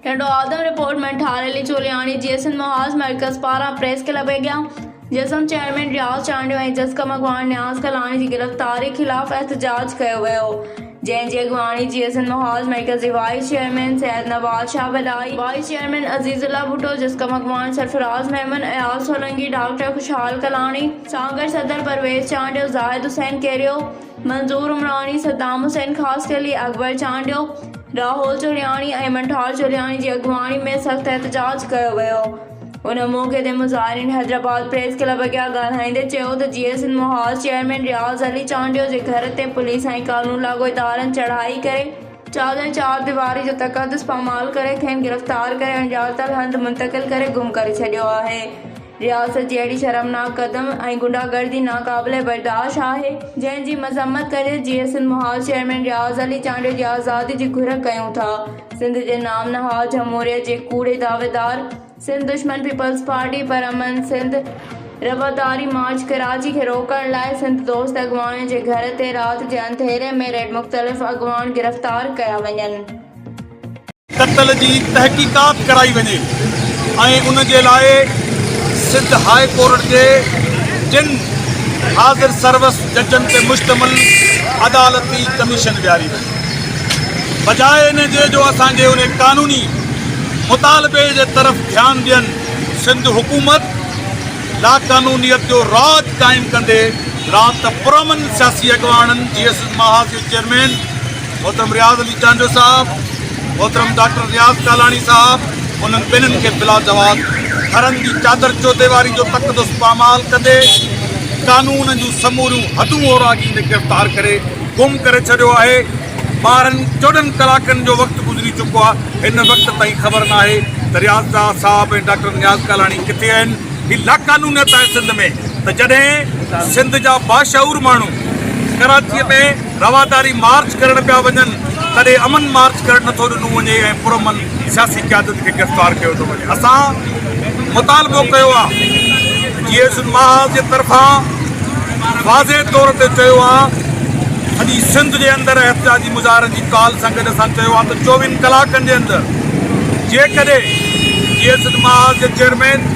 هينڊو آدم رپورٽ ۾ ٺاري لچولياڻي جي سنڌ محاذ مرڪز پاران پريس ڪلب اڳيان جسم چيئرمين رياض چانڊيو ۽ جسقم اڳواڻ نياز ڪلاڻي جي گرفتاري خلاف احتجاج ڪيو ويو جنهن جي اڳواڻي جي سنڌ محاذ مرڪز جي وائيس چيئرمين سيد نواز شاهه وڏائي وائيس چيئرمين عزيز الله ڀٽو جسقم اڳواڻ سرفراز ميمڻ اياز سولنگي ڊاڪٽر خوشحال ڪلاڻي سانگهڙ صدر پرويز چانڊيو زاهد حسين ڪيريو منظور عمراڻي، صدام حسين خاصخيلي، اڪبر چانڊيو، راهول چوڙياڻي ۽ منٺار چوڙياڻي جي اڳواڻي ۾ سخت احتجاج ڪيو ويو. ان موقعي تي مظاهرين حيدرآباد پريس ڪلب اڳيان ڳالهائيندي چيو ته جيئي سنڌ محاذ چيئرمين رياض علي چانڊيو جي گهر تي پوليس ۽ قانون لاڳو ادارن چڙهائي ڪري چادر ۽ چار ديواري جو تقدس پامال ڪري کين گرفتار ڪري اڻڄاتل هنڌ منتقل ڪري گم ڪري ڇڏيو آهي رياست جي اهڙي شرمناڪ قدم ۽ غنڊا گردي ناقابل برداشت آهي جنهن جي مذمت ڪندي جي اي سنڌ محاذ چيئرمين رياض علي چانڊيو جي آزادي جي گهر ڪيون ٿا سنڌ جي نام نهاد جمهوريت جي ڪوڙي دعويدار سنڌ دشمن پيپلز پارٽي پرامن سنڌ رواداري مارچ ڪراچي کي روڪڻ لاء سنڌ دوست اڳواڻن جي گهر تي رات جي انڌيري ۾ ريڊ مختلف اڳواڻ گرفتار ڪيا وڃن. قتل جي تحقيقات ڪرائي وڃي ۽ ان جي لاء سنڌ هاء ڪورٽ جي ٽن حاضر سروس ججن تي مشتمل عدالتي ڪميشن ويهاري وڃي. بجاء ان جي جو اسان جي ان قانوني مطالبي جي طرف ڌيان ڏين، سنڌ حڪومت لاقانونيت جو راڄ قائم ڪندي رات پرامن سياسي اڳواڻن جي ايس محاذ جي چيئرمين محترم رياض علي چانڊيو صاحب، محترم ڊاڪٽر رياض ڪالاڻي صاحب انهن ٻنهن کي بلاجواز ٿرن جي چادر چوڌي واري جو تقدس پامال ڪندي قانون جون سموريون حدون اوراڳيندي گرفتار ڪري گم ڪري ڇڏيو آهي ٻارهن چوڏهن ڪلاڪن جو وقت گذري چڪو آ هن وقت تائين خبر ناهي ته رياض شاهه صاحب ۽ ڊاڪٽر نياز ڪالاڻي ڪٿي آهن هي لاقانونيت آهي سنڌ ۾ ته جڏهن سنڌ جا باشعور ماڻهو ڪراچي ۾ رواداري مارچ ڪرڻ پيا وڃن تڏهن امن مارچ ڪرڻ نٿو ڏنو وڃي ۽ پرامن سياسي قيادت کي گرفتار ڪيو ٿو وڃي اسان مطالبو ڪيو آهي جي ايس اين محاذ جي طرفان واضح طور تي چيو آهي سڄي سنڌ جي اندر احتجاجي مظاهرن جي ڪال سان گڏ اسان چيو آهي ته چوويهن ڪلاڪن جي اندر جيڪڏهن جي ايس اين محاذ جي چيئرمين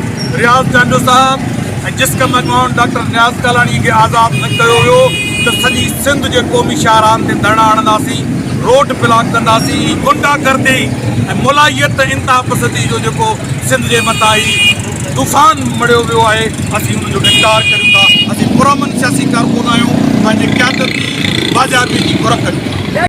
رياض چانڊيو صاحب ۽ جسقم اڳواڻ ڊاڪٽر نياز ڪالاڻي کي آزاد نه ڪيو ويو ته سڄي سنڌ جي قومي شاهراهن تي ڌرڻا هڻنداسين، روڊ بلاڪ ڪنداسين، هي غنڊا گردي ۽ ملائيت ۽ انتها پسندي جو جيڪو سنڌ جي مٿان هي طوفان مڙهيو ويو آهي اسين ان جو انڪار ڪريون ٿا، اسين پرامن سياسي ڪارڪن آهيون، پنهنجي قيادت جي باجابي جي گهر ڪريون ٿا.